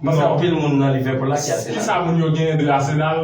Mwen fè anpil moun nan Liverpool la ki Arsenal. Kisa moun yo genyen de Arsenal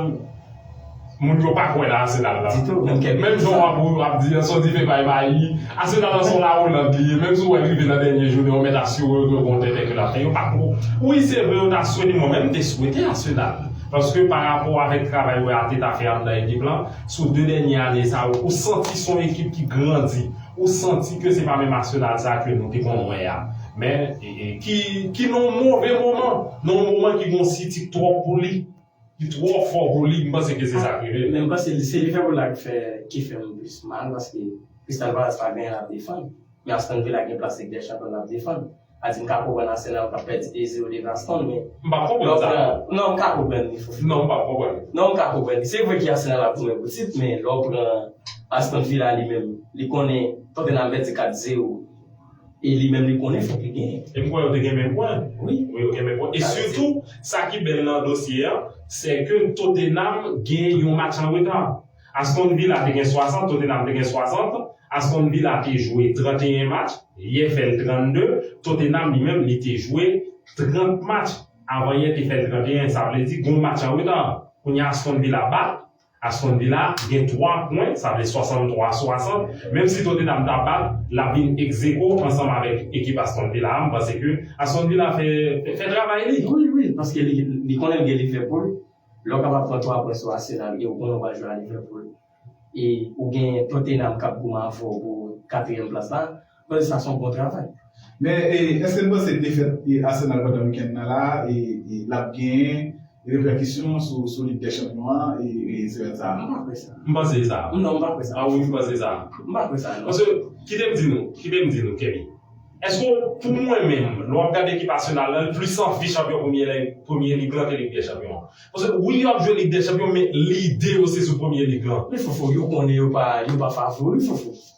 moun yo pa kwè nan Arsenal la. Ditou, menm kèk moun sa. Menm jan w ap di an son dife bay mayi, Arsenal lan son lawoland li ye, menm si w wè l rive nan dènye jounen yo mèt asire yo ke yo gon tenten ke l ap fè. Yo pa ko. Wi se vre yo ta swete, mwen menm te swete Arsenal. Paske pa rapò avèk travay wè Arteta fè anndan ekip lan, sou 2 dènye ane sa yo, ou santi son ekip ki grandi, ou santi ke se pa menm Arsenal sa ke nou te konn wè a. Men. ki nan yon move moman, nan yon moman ki gen yon sitik twòp pou li, ki twò fò pou li, m panse ke se sa k rive l. Men m panse li se Liverpool la ki fè m plis mal paske Crystal Palace pa genyen l ap defann, men Aston Villa gen plas Lig dè Chanpyon l ap defann. Sa vle di m ka konprann Arsenal k ap pèdi 2 zero devan Aston men M p ap konprann sa non. Non m ka konprann li Fofana. Non m p ap konprann li. Non m ka konprann li. Se vre ke Arsenal ap goumen pou tit men lè w pran Aston Villa li menm li konnen Tottenham pèdi 4 zero. E li menm li konnen fòk li genyen. E m kwè yo te gen menm pwen. Wi. Wi yo gen menm pwen. E sitou, sa ki bèl nan dosye an, sè ke Tottenham gen yon match an reta. Aston Villa te gen 60, Tottenham te gen 60. Aston Villa te jwe 31 match, yè fè l 32. Tottenham li menm li te jwe 30 match, avan yè te fè l 31. Sa vle di gen yon match an reta. Kounye a Aston Villa bat Aston Villa gen 3 pwen, sa vle 63 a 60, menm si Tottenham ta bat, l ap vin egzeko ansanm avèk ekip Aston Villa a, m panse ke Aston Villa fè fè travay li. Wi wi, paske li li konnen l gen Liverpool, lè w kapab pran 3 pwen sou Arsenal e w konnen w pral jwe a Liverpool e ou gen Tottenham k ap goumen avè w pou katriyèm plas la, Bon sa son bon travay. Men eske n panse defèt Arsenal pandan wikenn nan la lap gen repèkisyon sou lig dè chanpyon an semèn sa a? M pa kwè sa. M panse sa. Non m pa kwè sa. A wi m panse sa. M pa kwè sa non. Paske kite m di nou, kite m di nou Kemi, eske w pou mwen menm lè w ap gade ekip Arsenal lan li plis anvi chanpyon premye lig lan ke lig dè chanpyon an? Paske wi yo ap jwe lig dè chanpyon men lide yo se sou premye lig lan. Men Fofo yo konnen yo pa favori Fofo.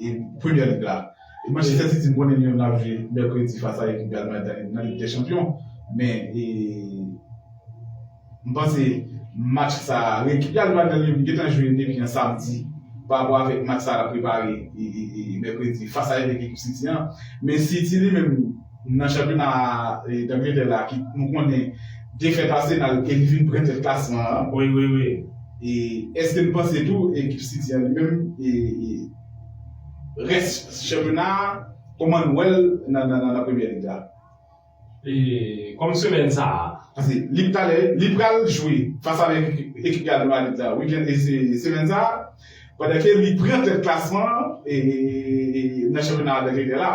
E Premier League la, Manchester City m konnen yo nan ap jwe mèkredi fas a ekip Real Madrid nan Lig dè Chanpyon, men m panse match sa a, ekip Real Madrid yo gentan jwe depi yon samdi pa rapò avèk match sa a l ap prepare mèkredi fas a evèk ekip City an, men City li menm. Nan chanpyona Angletè la ki nou konnen defèt Arsenal e li vin pran tèt klasman an. Wi wi wi. E eske nou panse tou ekip City an li menm e rès chanpyona a kòman nou wèl nan Premier League la? E kòm semèn sa a. Pase li talè li pral jwe fas avèk ekip Real Madrid la wikèn e semèn sa a pandan ke li pran tèt klasman e nan chanpyona Angletè la.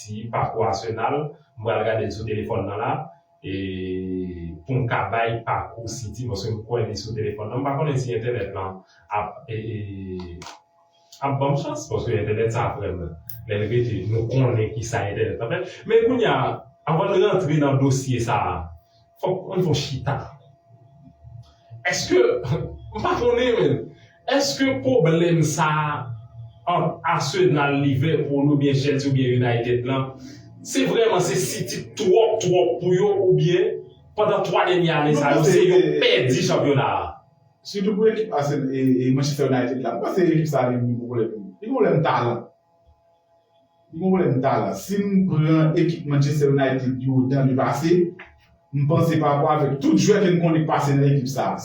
ti pakou Arsenal m pral gade l sou telefòn nan la e pou m ka bay pakou City paske m kwè li sou telefòn nan m pa konnen si entènèt lan ap e ap ban m chans paske entènèt sa frè m lè l rete nou konnen kisa entènèt lan fè men kounye a anvan n rantre nan dosye sa Fok mwen fon chita. Eske m pa konnen men eske pwoblèm sa ant Arsenal, Liverpool oubyen Chelsea oubyen United lan se vrèman se City k twòp twòp pou yo oubyen pandan 3 dènye ane sa yo se yo k pèdi chanpyona a? Sitou pou ekip Arsenal e Manchester United la m panse ekip sa li gen pwoblèm li gen pwoblèm talan. Li gen pwoblèm talan. Si m pran ekip Manchester United yo dan li pase, m panse pa rapò avèk tout jwè ke n konnen k pase nan ekip sa a.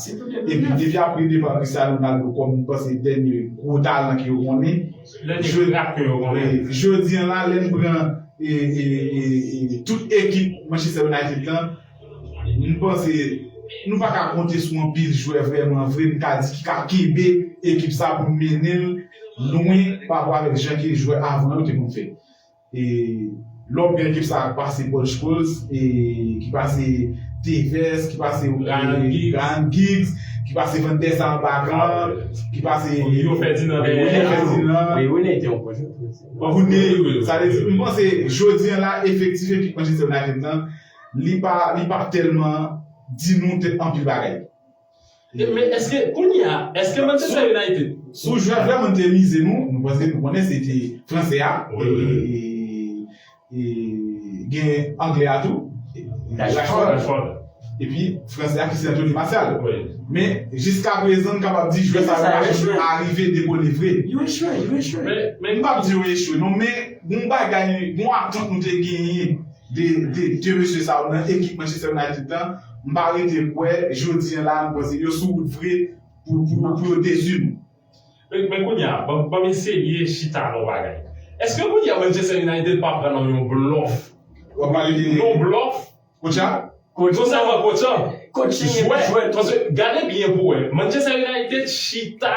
Epi depi apre depa Cristiano Ronaldo kòm m panse dènye gwo talan ke yo konnen, jodi an la lè n pran tout ekip Manchester United lan, M panse nou pa ka konte sou anpil jwè vrèman vre m ka di ki ka kenbe ekip sa pou mennen l lwen pa rapò avèk jan ke jwè avan yo te konn fè. E lè w pran ekip sa ki pase Paul Scholes, ki pase Tevez, ki pase Ryan Giggs, ki pase Van der Sar Bagan, ki pase Rio Ferdinand Rio Ferdinand Rio Ney te yon bon jwè tou. Bon pou Ney wi. Sa vle di m panse jodi an la efektif ekip Manchester United lan Li pa li pa telman Di nou te anpil bagay. E men eske kounye a eske Manchester United. Sou jwè vre mwen te mize nou nou panse nou konnen se te fransè a e gen anglè a tou Rashford epi fransè a ki se Anthony Martial men jiskaprezan m kapab di jwè sa yo pa arive dekole vre yo echwe yo echwe m pap di yo echwe non men gon bagay gon atant nou te genyen 2 mesye sa yo nan ekip Manchester United lan m pa rete kwè jodi an la m panse yo sou wout vre pou yo dezi nou. Men kounya banm eseye chita ak yon bagay. Eske kounya Manchester United pa pran nan yon blòf? Wap pale de yon blòf? Koucha? Koco sa man kocan jwè paske gade byen pou wè Manchester United chita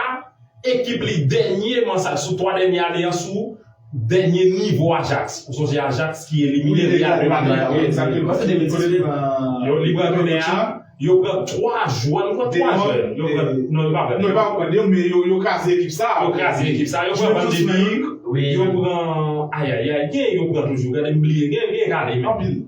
ekip li dènye man sa sou 3 dènye ane an sou dènye nivo Ajax ou sonje Ajax ki elimine Real de Madrid la wi ekzakteman se 2018 yo li pran kounye a yo pran 3 jwè m kwè 3 jwè yo pran non yo pa pran 2 non yo pa pran 2 men yo kraze ekip sa yo kraze ekip sa yo pran van de beek yo pran ayayay gen yo pran toujou gade m bliye gen gen kale men anpil.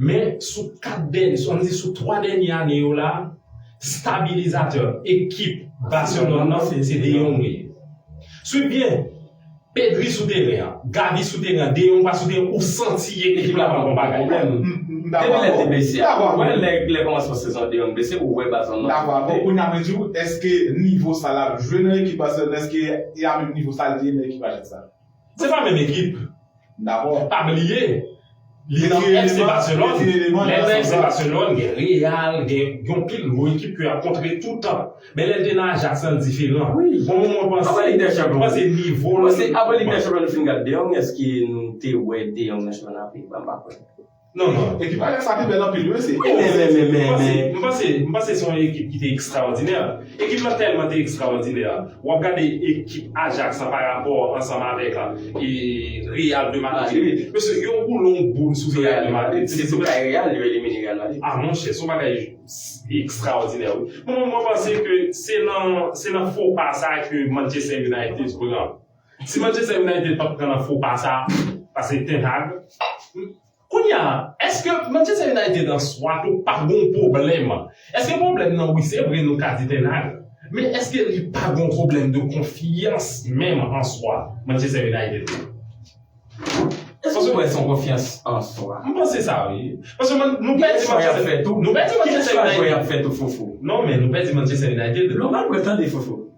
Men sou 4 dènye, an nou di sou 3 dènye ane yo la, stabilizatè ekip Barcelone nan se De Jong li ye. Swiv byen, Pedri sou teren an, Gavi sou teren an, De Jong pa sou teren an, ou santi ekip la pa nan bon bagay. M dakò avè w. Depi lè l te blese a, ou wè lè kòmansman sezon an De Jong blese, ou wè Barcelone nan difikilte. M dakò avè w. Kounye a mwen di w, èske nivo sa l ap jwe nan ekip Barcelone, èske li a menm nivo sa l te ye nan ekip Ajax la? Se pa menm ekip. M dakò. Pa bliye, li nan FC Barcelone, lè l nan FC Barcelone gen Real, gen yon pil gwo ekip ke y ap kontre toutan. Men lè l te nan Ajax lan l diferan. Wi. Bon moman mwen panse, mwen panse nivo l. Apre Lig dè Chanpyon nou fin gad De Jong, èske nou te wè De Jong nan chanpyona Peyi ba? M pa kwè. Non non ekip Ajax la te bèl anpil wi se Men men men men men M panse m panse se yon ekip ki te ekstraòdinè Ekip lan tèlman te ekstraòdinè W ap gade ekip Ajax lan pa rapò ansanm avèk e Real de Madrid Mesye yo boule yon boul sou Real de Madrid Se sou kay Real yo elimine Real Madrid A monchè se yon bagay ekstraòdinè wi Mwen mwen panse ke se nan se nan fo pa sa ke Manchester United pran Si Manchester United pap pran nan fo pa sa pase Ten Hag Kounya eske Manchester United an swa tou pa gon pwoblèm eske pwoblèm nan wi se vre nou ka di Ten Hag men eske li pa gon pwoblèm de konfyans menm an swa Manchester United la Eske se vre son konfyans an swa? M panse sa wi paske man nou pèdi Manchester nou pèdi Manchester United Ki chwa jwè y ap fè tou Fofo? Non men nou pèdi Manchester United Lò m ap retande Fofo.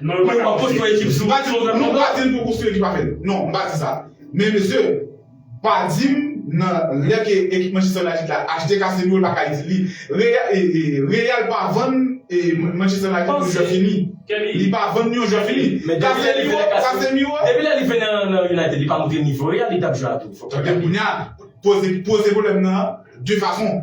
Nou pa ka konstwi yon ekip sou bati moun. Nou pa di pou konstwi ekip avèl. Non, m pa di sa. Men mesye, pa di m nan lè ke ekip Manchester United la achte Casemiro l pa ka itil li. Real pa vann Manchester United yon jwè fini. Li pa vann yon jwè fini. Men depi lè li vini Casemiro. Depi lè li vini nan United li pa montre nivo Real li tap jwe a tou. Fòk nou di. Ebyen kounya poze pwoblèm nan de fason.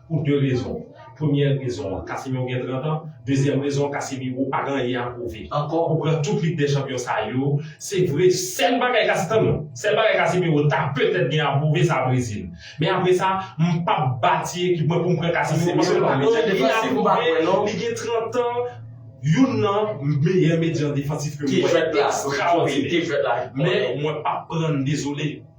Pou 2 rezon. Premyè rezon an, Casemiro gen 30 an, dezyèm rezon an Casemiro pa gen anyen a pwouve ankò, ou pran tout lig dè chanpyon sa yo, se vre sèl bagay Case tann non, sèl bagay Casemiro ta petèt gen a pwouve sa Brezil. Men apre sa, m pap bati ekip mwen pou m pran Casemiro paske l pa gen anyen a pwouve, li gen 30 an, youn nan meyè medyan defansif ke m wè ekstraòdinè. Men mwen pap pran n dezole.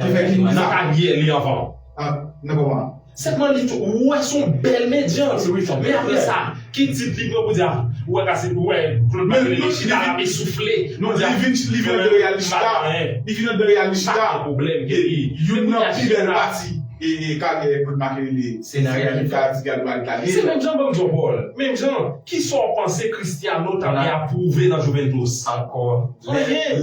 Ki fè ki nan pa di li anvan. Nan kòman an. Sèlman li tou ou wè son bèl medyant wi fanm. Men aprè sa ki tit li pran pou di a ou wè ka se ou wè Claude Martelly li chita lap esoufle. Non li vin li vin andan real li chita li vin andan real li chita youn nan pi bèl pati e karyè Claude Martelly se nan real li chita ti gadwa li ta ye. Se menm jan banm di w Paul, menm jan kisa w panse Christiano ta vle ap pwouve nan Juventus? Ankò. Anyen.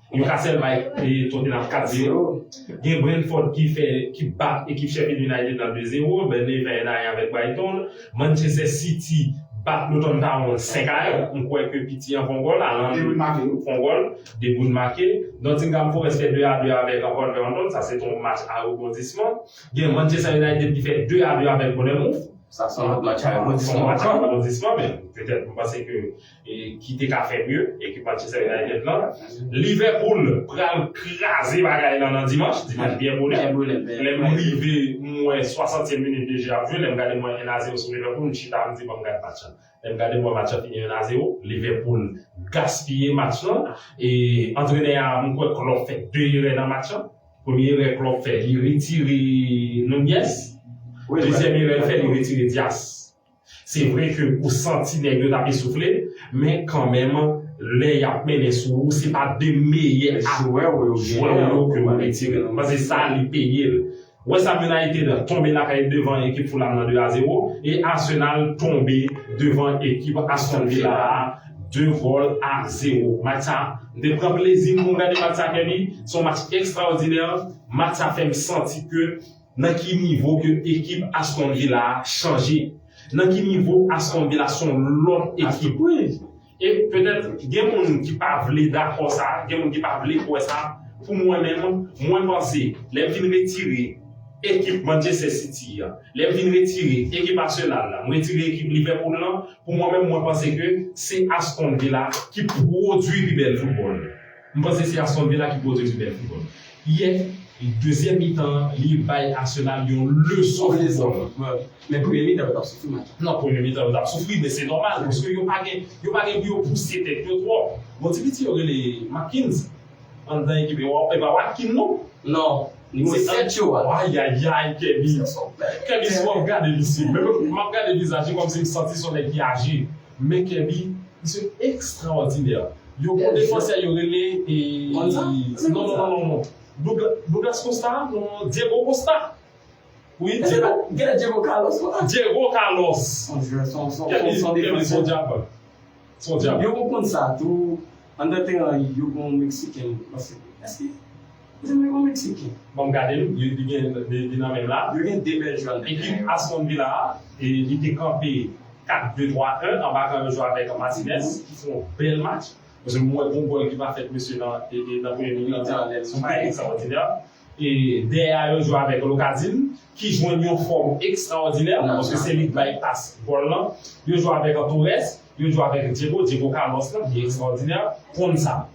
Yo ka sèl bay Tottenham 4 zero gen Brentford ki fè ki bat ekip Sheffield United nan 2 zero Burnley fè 1 a 1 avèk Brighton Manchester City bat Luton Town 5 a 1 m kwè ke piti an fon gòl Haaland De Bruyne make wi fon gòl De Bruyne make Nottingham Forest fè 2 a 2 avèk Wolverhampton sa se te yon match a rebondisman gen Manchester United ki fè 2 a 2 avèk Bournemouth sa se yon match a rebondisman match a rebondisman men petèt m panse ke ki te ka fè mye ekip Manchester United lan Liverpool pral kraze bagay lan nan dimanch dimanch byen bole lèm rive m wè 60 tièm minit de jeu ap jwe lèm gade m wè 1 a 0 sou Liverpool m chita m di banm gad match lan lèm gade m wè match lan fini 1 a 0 Liverpool gaspiye match lan e antrenè a m kwè Klopp fè 2 erè nan match lan premye erè Klopp fè li retire Nunez dezyèm erè l fè li retire Dias. Se vre ke ou santi nèg yo tap esoufle, men kanmenm lè yap mennen sou ou se pa 2 meyè jwè w yo ke ou retire nan, paske sa li peye l. Westham United tonbe lakay devan ekip Fulham nan 2 a 0, e Arsenal tonbe devan ekip Aston Villa a 2 gòl a 0. Match sa, m te pran plezi m pou m gade match sa Kenny, se yon match ekstraòdinè, match sa fè m santi ke. Nan ki nivo ke ekip Aston Villa a chanje? Nan ki nivo Aston Villa son lòt ekip? Wi, e petèt gen moun ki pa vle dakò sa, gen moun ki pa vle kwè sa, pou mwen menm, mwen panse lè vin retire ekip Manchester City a, lè vin retire ekip Arsenal la, m retire ekip Liverpool lan, pou mwen menm mwen panse ke se Aston Villa ki pwodwi pi bèl foutbòl. M panse se Aston Villa ki pote pi bèl foutbòl yè, dezyèm mitan an li bay Arsenal yon leson foutbòl. Men premye mitan yo t ap soufri match la. Non premye mitan yo t ap soufri men se nòmal paske yo pa gen yo pa gen pou yo pouse tèt yo twòp. Gon ti piti yo rele Marquinhs anndan ekip e wap e pa Watkin non. Non, nimewo 7 yo a. Ayayay Kèbi Kèbi si wap gade misye menm m ap gade vizaj li kòmsi m santi son nèg ki aje. Men Keby misye ekstraòdinè. Yo bon defansè yo rele e non non non non Douglas Costa non non non Diego Costa wi Diego Gen Diego Carlos la Diego Carlos Keby Keby son dyab son dyab Yo konn sa tou andan teran yo gon meksiken mwen panse eske Mwen se mwen yon meksiken. Banm gade l, li gen li nan menm la. Yo gen 2 bèl jwè nan teren yo. Ekip Aston Villa a, li te kanpe 4 2 3 1 anba kan yo jwe avèk Martinez ki fè yon bèl match. Paske mwen wè gon gòl ki pa fèt mesye nan nan premye mitan an, se anlè l, son bagay ekstraòdinè. E dèyè a yo jwe avèk Locadin ki jwenn yon fòm ekstraòdinè paske se li k bay pas gòl lan. Yo jwe avèk Torres, yo jwe avèk Diego, Diego Carlos lan ki ekstraòdinè. Konsa,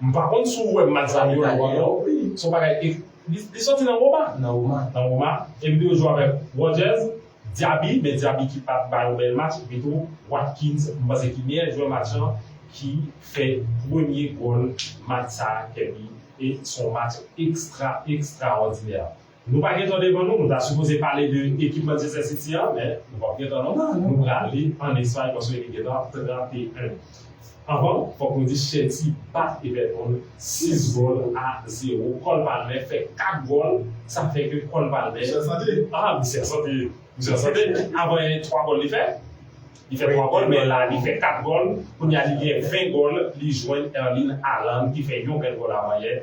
M pa konn si w wè match sa yo nan wòm up wi. Se yon bagay e Li soti nan Roma? Nan Roma. Nan Roma. Epi yo jwe avèk Rodgers, Diaby, men Diaby ki pa t bay yon bèl match, epitou Watkins m panse ki meyè jwè match lan ki fè premye gòl match sa a Kerby e se yon match ekstra ekstraòdinè. Nou pa gen tan devan nou, nou ta sipoze pale de ekip Manchester City a, men nou pap gen tan non, nou prale an Espay paske li gentan ap trape 1. Anvan, fòk nou di Chelsea bat Everton 6 gòl a 0, Cole Palmer fè 4 gòl, sa fè ke Cole Palmer, Misye an sante! Ah misye an sante! Misye an sante! Avan 3 gòl li fè, li fè 3 gòl men la li fè 4 gòl, kounya li gen 20 gòl, li jwenn Erling Haaland ki fè yon bèl gòl avan yè,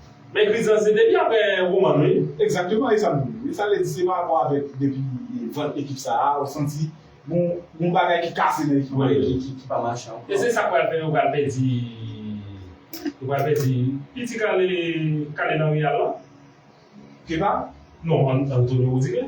Men kriz lan se depi aprè Roman wi. Exactement e sa m di. Sa vle di se pa rapò avèk depi vant ekip sa a ou santi gon gon bagay ki kase nan ekip lan ki ki pa mache ankò. E se sa k pral fè yo pral pèdi yo pral pèdi piti kale kale nan Real lan. Kepa? Non Antonio Rudiger.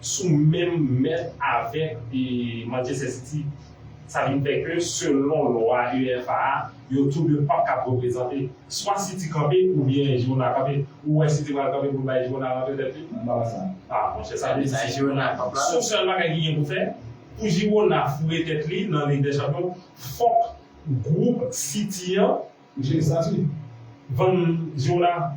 sou menm mèt avèk Manchester City, sa vin fè ke selon lwa UEFA a, yo tou 2 pap kab reprezante. Swa City kanpe oubyen Girona kanpe. Ou wè City pral kanpe pou l bay Girona rantre tèt li? M pa wè sa. A monchè sa vle di si Girona kanpe la. Son sèl bagay ki gen pou fè, pou Girona foure tèt li nan Lig dè Chanpyon, fòk gwoup City an. Jwe estati. Vann Girona.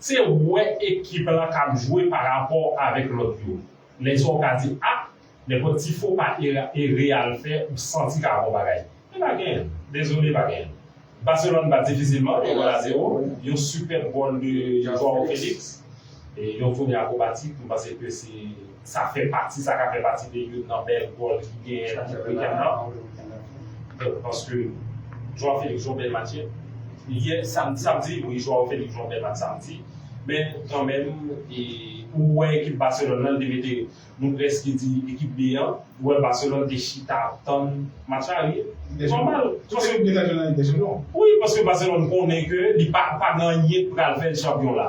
Se wè ekip la kap jwe pa rapò avèk lòt yo. Lèsa ou ka di ah nenpòt ti fo pa e Real fè ou santi ka bon bagay. Men pa gen. Dezole pa gen. Barcelone bat difisilman, yon gòl a zewo, yon sipèb gòl de Joao Felix e yon toune akrobatik, m panse ke se. Sa fè pati, sa ka fè pati de youn nan bèl gòl ki genyen nan tout weekend nan. Donk, paske Joao Felix jwe yon bèl match yè. Yè, sam, samdi, wi, Joao Felix jwe yon bèl match samdi. Men, kanmenm, e, ou wè ekip Barcelone nan, li te mete, nou prèske di ekip B an. Ou wè Barcelone te chita ap tann match la, wi. Se nòmal. Tout ekip deja jwe nan Lig dè Chanpyon. Wi, paske Barcelone konnen ke li pa, pa gen anyen ki pral fè l chanpyon la.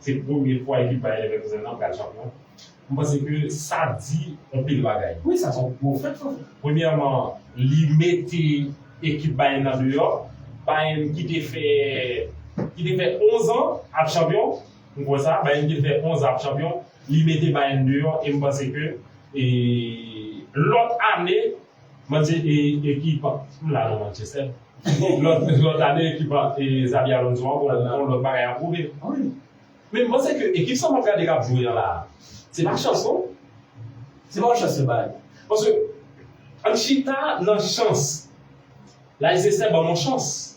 Se premye fwa ekip Bayer Leverkusen an pral chanpyon. M panse ke sa di on pil bagay. Wi sa se yon gwo fèt wi. Premyèman li mete ekip Bayern nan deyò. Bayern ki te fè ki te fè 11 an ap chanpyon. M kwè sa. Bayern ki te fè 11 an ap chanpyon. Li mete Bayern deyò e m panse ke e lòt ane Manje e ekip m la non Manchester lòt ane ekip Xabi Alonso an bon lòt bagay ap pwouve men m panse ke ekip sa map gade kap jwe an la se pa chans non se pa yon chans yo bay paske ann chita nan chans Leicester banm yon chans.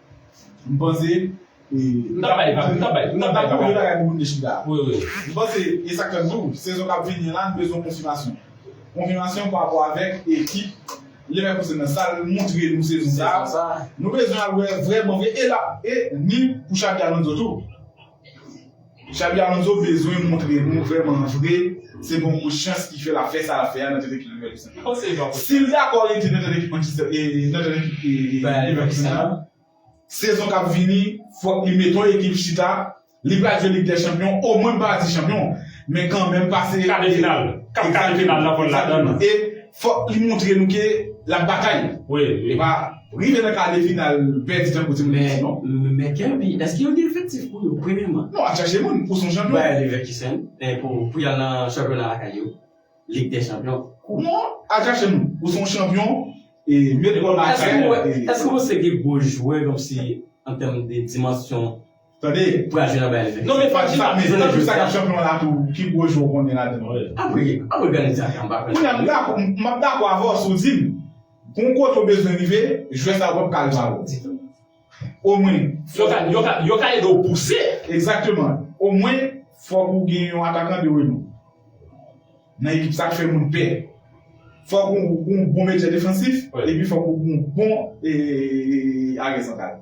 M panse M ta bay papi, m ta bay, m ta bay papi. M ta bay bagay pou moun dechmi la. Wi, wi. M panse e sa k fè m di w, sezon k ap vini an la n bezwen konfimasyon. Konfimasyon pa rapò avèk ekip Liverpool se nan sa l montre nou sezon sa a. Nou bezwen al wè vrèman vre e l ap e ni pou Xabi Alonso tou. Xabi Alonso bezwen montre nou vrèman vre se bon pou chans ki fè l ap fè sa l ap fè a nan tèt ekip Liverpool sa. Si l dakò rete nan tèt ekip Liverpool sa, sezon k ap vini fòk li met yon ekip chita, li pral jwe Lig dè Chanpyon, omwen m pa di chanpyon men kanmenm pase kade final, kap kade final nan pou l ladan l. Fòk li moutre nou ke lap batay. Li pa rive nan kade final pèdi tankou timoun yo di non. Men Kerby, eske yo gen efektif pou yo premyeman? Non, ap chache moun pou son chanpyon. Bayer Leverkusen, pou yal nan chanpyona lakay yo, Lig dè Chanpyon. Non, al chache moun pou son chanpyon e met Roma a sa yo. Eske ou panse gen gwo jwè kòmsi an tèm de dimansyon? Tande. Pradjina bay li men. Non men Pradjina men tann jou sa kap chanpyon la tou ki gwo jwe ou konnen ladan an. Apre apre gade sa sa mpa konprann. Kounya map dakò avè w si w dim gon kote w bezwen rive jwè sa yo pap ka rive avè w ditou. Omwen fòk yo ka yo ka ede w pouse. Egzakteman. Omwen fòk ou gen yon atakan de renou nan ekip sa k fè moun pè. Fòk ou gon bon medyè defansif epi fòk ou gon bon aryè santral.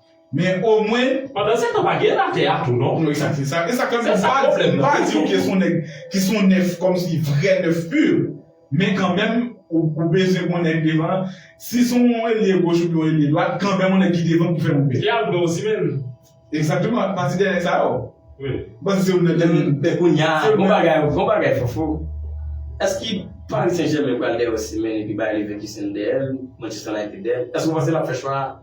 Men omwen. Pandan se tan pa gen la tè a tou non. Non ekzat se sa. Esa kanmenm se sa pwoblèm nan. Pa di ou ke son nèg ki son nèf kòmsi vrè nèf pur men kanmenm ou bezwen pou nèg devan an si son yon elye goch oubyen yon elye dwat kanmenm yon nèg ki devan pou fè moun pè. Li al dwe Osimhen. Ekzakteman pati dè nèg sa yo. Wi. Panse se ou nan dè moun. Men kounya gon bagay gon bagay Fofo eske Paris Saint Germain pral dèyè Osimhen epi bay Leverkusen dèyèl Manchester United dèyèl eske ou panse lap fè chwa a?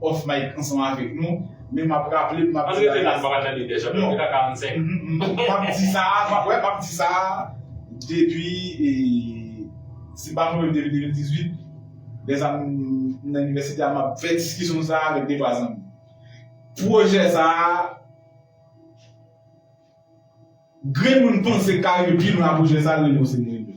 off mic ansanm avèk nou men map raple map di bagay sa map di sa map di sa depi si pa mwen menm depi 2018 lèsa m nan inivèsite a map fè diskisyon sa avèk 2 3 zanmi pwojè sa grenn moun panse ka rive pi lwen ak pwojè sa rele yo se mwen yo.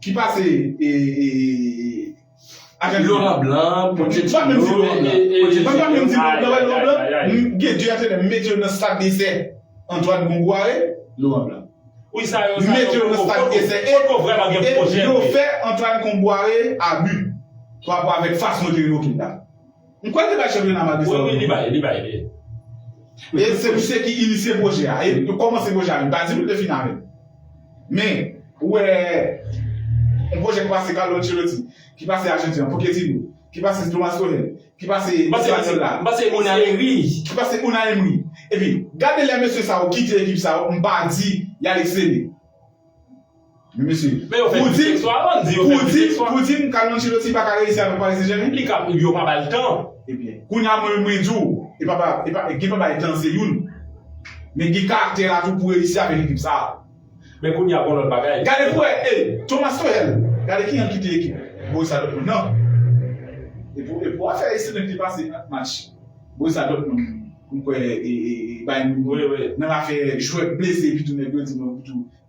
Ki pase e Ajantin. Loran blan, Pochettino, e. Mwen pa menm di Loran blan, Loran blan, nou gen 2 antrenè, m mete yo nan stad desè, Antoine Bongo e Loran blan. Wi sa yo, sa yo. M mete yo nan stad desè e. Poko vrèman gen pwojè vre. E yo fè Antoine Kombouaré a but, pa rapò avèk fason yo te revoke l la. M kwè li bay chanpyona Madrid sa. Wi wi li bay, li bay li. E se misye ki inisye pwojè a. E yo kòmanse pwojè a. M pa di nou l te fini avèl. Men, ou wè yon pwojè ki pase Carlo Ancelotti, ki pase Arjantin an, Pochettino, ki pase Thomas Tuchel, ki pase Guardiola. M pase Unai Emery. Ki pase Unai Emery. Epi, gade lè mesye sa yo kite ekip sa yo, m pa di y al eksele. Men mesye, pou di, pou di, pou di m Carlo Ancelotti pa ka reyisi avèk Paris Saint-Germain? Li ka, yo pa ba l tan. Ebyen, kounye a mwen menm mwen di w, e pa ba, e pa, gen pa bay tan se youn, men gen karaktè la tou pou reyisi avèk ekip sa a. Men kounye a gon lòt bagay. Gade pou wè, e, Thomas Tuchel, gade kijan l kite ekip Borussia Dortmund nan. E pou, e pou afè ekselent li pase ant match Borussia Dortmund, m kwè, e, e, e Bayern Munich nan afè jwè k blese epi tou nèg yo di non epi tou.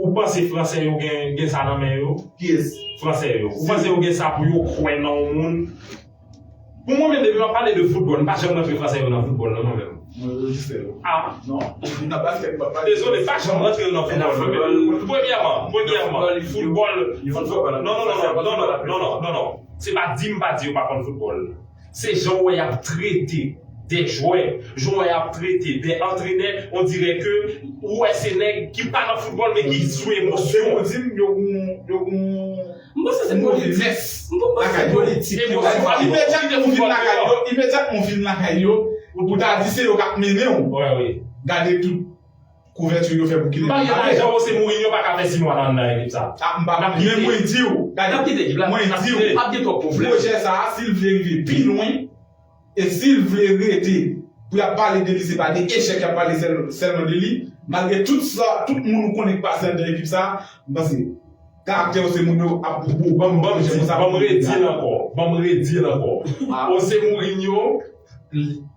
Ou panse fransè yo gen sa nan men yo? Kiyès? Fransè yo. Ou panse yo gen sa pou yo kwè nan yon moun? Pou mwen menm depi wap pale de foutbòl, m pa janm rantre fransè yo nan foutbòl non mwen menm. Mwen yo jis fè yo. A? Non. Moun nan baskèt m pap pale. Dezole, m pa janm rantre yo nan foutbòl mwen menm. Premyèman, premyèman, foutbòl, foutbòl, non non non non, non non, non non, se pa di m pa di yo pa konn foutbòl. Se jan w wè y ap trete de jwè, jan w wè y ap trete de antrenè, on dirè ke ou wè se nèg ki pa nan foutbòl men ki sou emosyon. Ou di m yo gon yo gon M panse se politik. M pa panse se politik. Emosyon ap fè w kite foutbòl deyò. Imedyatman w vin lakay yo, ou ta di se yo k ap mennen w. Gade tout. Couverture yo fè pou kite Mbappe. Bagay la jan José Mourinho pa ka fè 6 mwa nan nan ekip sa. Ah Mbappe men mwen di w. Gade nap kite ekip la mwen di w. Pap gen trop problème. Pwojè sa a si l vle rive pi lwen e si l vle rete pou yap pale de li se pa de echèk yap pale sèlman de li malgre tout sa tout moun ou konnen k pase andan ekip sa m panse karaktè José Mourinho ap pou pou banm banm di banm redi l ankò banm redi l ankò José Mourinho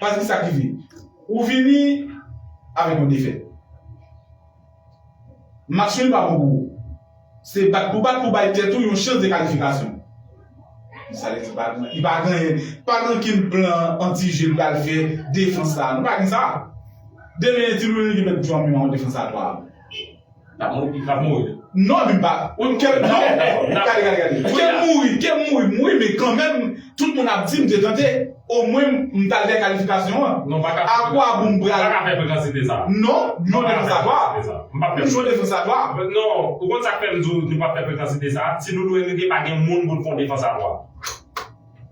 Paske ki sa k rive? Ou vini avèk yon defèt. Match nul pa bon pou ou. Se bat pou bat pou bay tèt ou yon chans de kalifikasyon. Men sa li di pa gen, li pa gen, pa gen okenn plan anti-jeu li pral fè defans la. Nou pa gen sa. Demen Ti Louis Henry ki mèt jou a menm an defans a 3 a. Lap mouri pi fò. Non li pa Wi kem mouri kem mouri mouri men kanmenm tout moun ap di m te tante o mwen m tal fè kalifikasyon an a kwa bon m pral non non de fè sa twa non de fè sa twa non ou konn sak fèm di w nou pap fè frekansite sa ti doudou evrike pa gen moun pou l fon de fè sa twa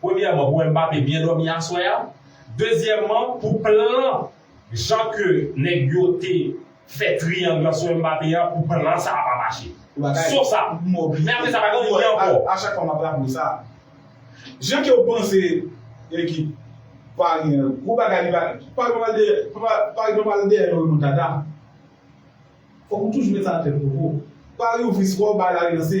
Premyèman pou Mbappé byen dòmi aswè a, dezyèmman pou plan jan ke nèg yo te fè triyang lan sou Mbappé a pou plan sa a pa mache. Sauf sa. Men apre sa pa gen anyen ankò. A chak fwa map raple w sa, jan ke w panse ekip Paris an gwo bagay li pa Paris pa pral dèyè Paris pa pral dèyè yon remontada. Fòk ou toujou met sa nan tèt ou bro. Paris ouvri skò, bay la relanse.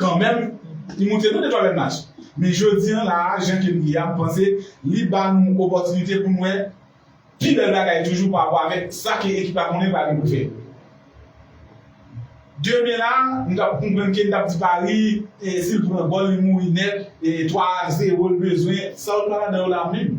Kanmenm, li moute nou de twa bèl match. Men jodi an la a, jan ke m ye a, m panse li ba nou opòtinite pou n wè pi bèl bagay toujou pa rapò avèk sa ke ekip la konnen pral gen pou l fè. Demen la, nou t ap konprann ke n t ap di Paris, si l pran gòl, li mouri nèt, e 3 a 0 l bezwen, sa yo t pran ladan yo la menm?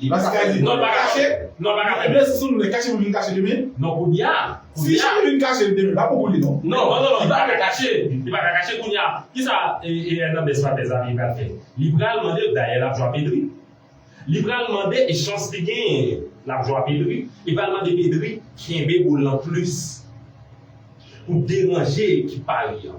Li pase kay li non li pa kache non pa kache menm si moun kache pou vin kache demen non kounya si cheri vin kache l demen pa bon pou li non non non non li paka kache li paka kache kounya kisa Hernandez pa tèt zami pral fè li pral mande dayè lap jwa Pedri li pral mande e chans li genyen lap jwa Pedri li pral mande Pedri kenbe boul lan plis pou deranje ekip pa li an.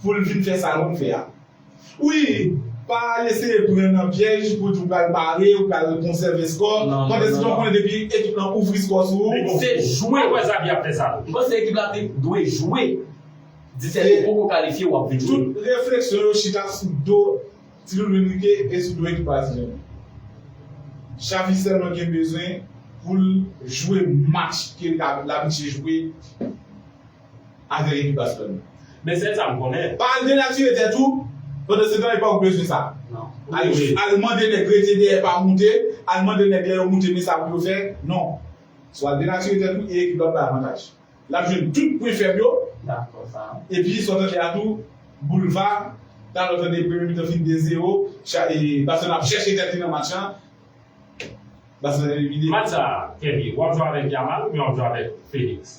Pou l vin fè sa nou fè a. Wi, pa al eseye pran nan pyèj pou di w pral pare, ou pral konsève skò, pandan se tan w konnen depi ekip lan ouvri skò sou ou, ou fou. Mwen kwè Xavi ap fè sa tou. M panse ekip la te dwe jwe 17 ou poko kalifye wap vin jwe. Tout refleksyon yo chita sou do Ti Loulou Enrique e sou do ekip Brezilyen an. Xavi sèlman gen bezwen pou l jwe match ke l ka l abitie jwe. Avèk ekip Baselòn. Men sèl sa m konnen. Pa al denatire tèt ou, pandansetan epa ou bezwen sa. Al mande nèg rete dèyè pa moute, al mande nèg lè yo moute men sa pou yo fè, non. Sou al denatire tèt ou e ekip la ap bay avantaj. L ap jwenn tout pwen fèb yo. Epi sa w tande a tou, Boulva, talè w tande premye mitan fini 2 zero, Baselòn ap chèche tèt li nan match lan, Baselòn elimine. Match sa, Kevy, w ap jwe avèk Yamal oubyen w ap jwe avèk Félix?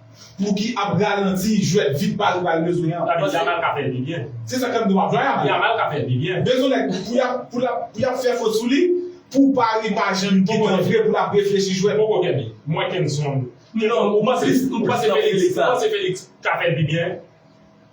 Pouki ap ralanti jwèt vit pa yo pral bezwen an. Pardon Jamal ka fè l pi byen. Se sa kap di wap vay a. Jamal ka fèl pi byen. Bezwen nèg pou yap pou lap pou yap fè fot sou li pou Paris pa janm kitel vre pou lap reflechi jwèt. Poko kenbe. Mwen kenson. Non ou panse ou panse Felix ou panse Felix ka fèl pi byen.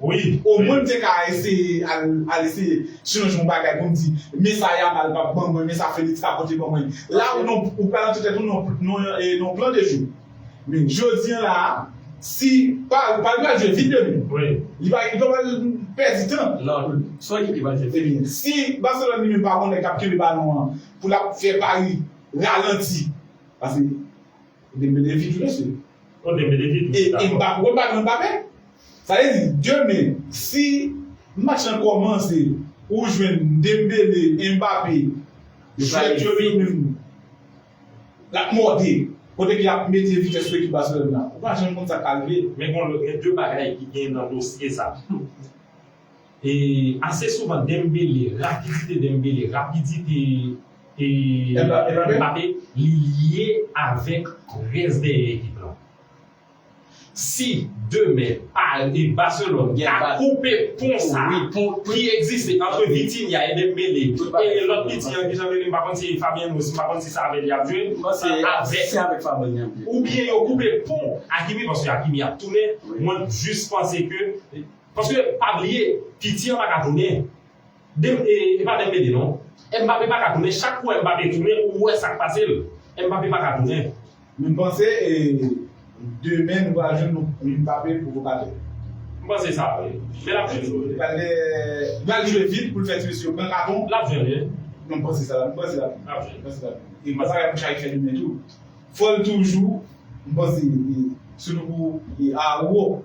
Wi o mwen m te ka eseye al al eseye chanje yon bagay pou m di men sa Yamal pap ban mwen men sa Felix ka pote ban mwen la ou nan ou pral antre tèt ou nan nan yon nan yon plan de jeu men jodi an la a si Paris Paris pral jwe vit demen li pa li pa pral pèdi tan nan son ekip ki pral jwe vit ebyen si Barcelone li menm pa gon nèg kap kenbe balon an pou lap fè Paris ralanti paske. E Dembele vit mesye. Oh Dembele vit wi dakò. E Mbappe wè balon Mbappe. Sa vle di demen si match lan kòmanse ou jwenn Dembele, Mbappe jwèt yo yo menm lap mòde kote ke yap mete vitès sou ekip Barcelone la. Ou pa janm konn sak ka rive. Men gen 2 bagay ki gen nan dosye sa. E ase souvan Dembele, rakidite Dembele, rapidite e Mbappe li lye avèk rès dèyè ekip lan. Si demen Paris, Barcelone ta koupe pon sa ki egziste antre Vitinha e Dembele e lòt piti an kijan li rele m pa konn si Fabian Ruiz m pa konn si sa avè li yap jwe oubyen yo koupe pon Hakimi paske Hakimi ap tounen mwen jis panse ke Paske pa bliye piti an paka tounen de epa Dembele non Mbappe paka tounen chak ou wè Mbappe tounen ou wè sak pasel Mbappe paka tounen. Min panse demen nou pral jwenn yon Mbappe pwovokatè. M panse sa vre men lap jwenn yo vre. Pral jwe vit poul fè ti mesye yo pran katon. Lap jwenn yo. Non m panse sa. M panse lap jwenn. M panse lap jwenn. E bagay pou Sharick fè demen tou. Fòl toujou m panse se pou Aouo.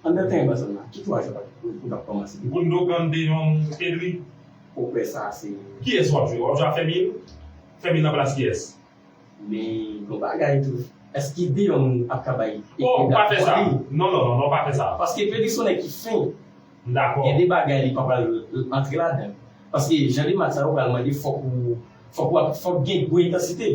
Andan tan envazyon nan, ki twa jou ak ou tap kòmanse li? Gundogan de Jong, Pedri. Pwopè sa a se. Kiyès wap jwe? Wap jwe ak Fermin? Fermin nan plas kiyès? Men yon bagay tou, èske de Jong ap ka bay ekip la fòs li? Oh, pa fè sa! Non, non, non, non, pa fè sa! Paske Pedri se yon nèg ki fen. M dakò. Gen de bagay li pa pral antre ladan. Paske jan de match sa yo pral mande fòk ou, fòk ou ap, fòk gen gwo entansite.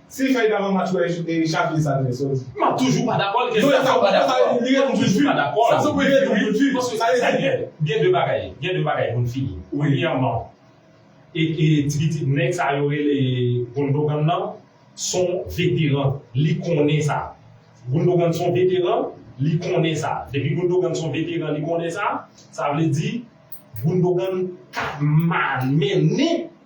Si li fè egal yon match wè Xavier sa vle sa w di. Map toujou pa dakò l kesn sa mpa dakò l li ret toujou pa dakò l sa vle di wi paske sa vle di gen de bagay gen de bagay pou n fini premyèman e e ti pitit nèg sa yo rele Gundogan nan son veteran li konnen sa Gundogan son veteran li konnen sa depi Gundogan son veteran li konnen sa sa vle di Gundogan ka mal mennen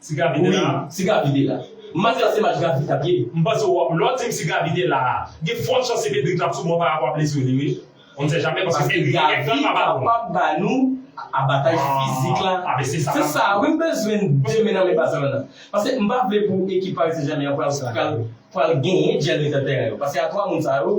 Si Gaby te la. Wi si Gaby te la. Match la se match Gaby tap ye. M panse w ap lè w dim si Gaby te la a gen fòt chans se Pedri k tap sou ban parapò a blesir li wi on ne sait jamais paske Pedri gen kèk tan l pa balon. Paske Gaby kapab ba nou abataj fizik la. Ah ben se sa. Se sa wi m bezwen demen nan men Barcelone an. Paske m pa vle pou ekip Paris Saint Germain an pral pral genyen djèl mitan tèren yo. Paske a 3 moun sa yo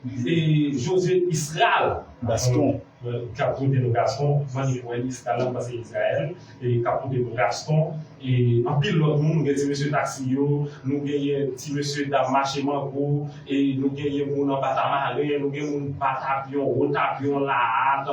Se José Israel Gaston ki ap pote nou Gaston kman nou wè Israel la pase Israel ki ap pote nou Gaston e anpil lòt moun nou gen ti mesye taksi yo nou genyen ti mesye dam mache mango e nou genyen moun anba tamaren nou gen moun batapyon wotapyon lahat